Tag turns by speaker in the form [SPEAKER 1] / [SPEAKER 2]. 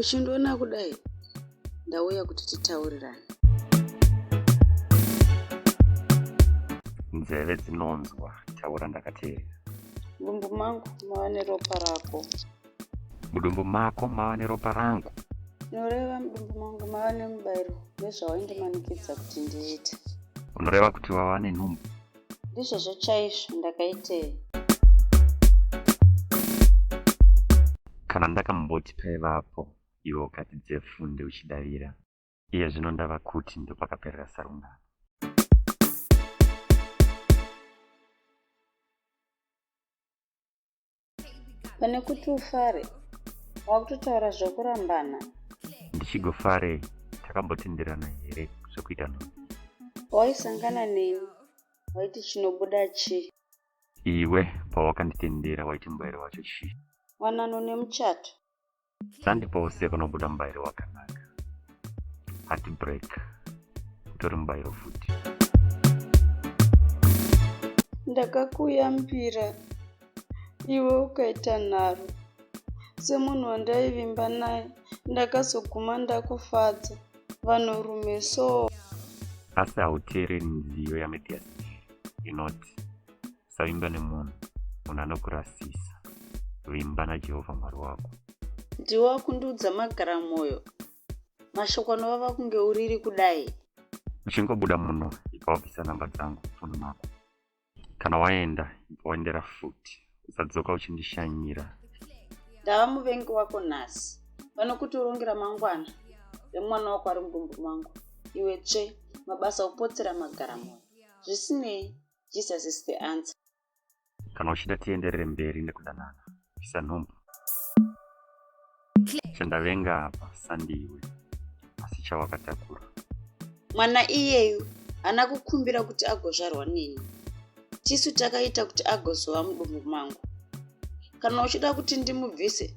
[SPEAKER 1] uchindiona kudai
[SPEAKER 2] ndauya kuti titaurirane
[SPEAKER 3] nzeve dzinonzwa taura ndakateerera mudumbu
[SPEAKER 2] mangu mava neropa rako mudumbu
[SPEAKER 3] mako mava neropa rangu noreva
[SPEAKER 2] mudumbu mangu mava nemubairo nezvawaindimanikidza kuti ndiite unoreva kuti
[SPEAKER 3] wava nenhumbu ndizvozvo
[SPEAKER 2] chaizvo ndakaitei
[SPEAKER 3] kana ndakamboti paivapo iwe ukati dzefunde uchidavira iye zvino ndava kuti ndopakaperera sarungano
[SPEAKER 2] pane kuti ufare wakutotaura zvekurambana ndichigofarei
[SPEAKER 3] takambotenderana here zvekuita no waisangana
[SPEAKER 2] neni waiti chinobuda chii iwe
[SPEAKER 3] pawakanditendera waiti mbairo wacho chii wanano
[SPEAKER 2] nemuchato Sunday
[SPEAKER 3] pose panobuda mubairo wakanaka. Heart break. Kutori mubairo futi.
[SPEAKER 2] Ndakakuyambira iwe ukaita nharo semunhu wandaivimba naye ndakazoguma ndakufadza vanhurume so asi
[SPEAKER 3] hauteereri nziyo yamedia inoti Usavimba nemunhu, munhu anokurasisa. Vimba naJehovha Mwari wako. Ndiwe
[SPEAKER 2] wakundudza magara mwoyo, mashoko anovava kunge uriri kudai. Uchingobuda
[SPEAKER 3] muno, ibva wabvisa namba dzangu mufoni mako. Kana waenda, ibva waendera futi. Usadzoka uchindishanyira. Ndava
[SPEAKER 2] muvengi wako nhasi, pano kuti urongera mangwana remwana wako ari mudumbu mangu. Iwe tsve, mabasa okupotsera magara mwoyo. Zvisinei, Jesus is the answer. Kana
[SPEAKER 3] uchida tienderere mberi nekudanana, isa nhumbu. Chandavenga apa sandiwe, asi chawakatakura. Mwana
[SPEAKER 2] iyeyu ana kukumbira kuti agozvarwa nini. Tisu takaita kuti agozova mudumbu mangu. Kana uchida kuti ndimubvise,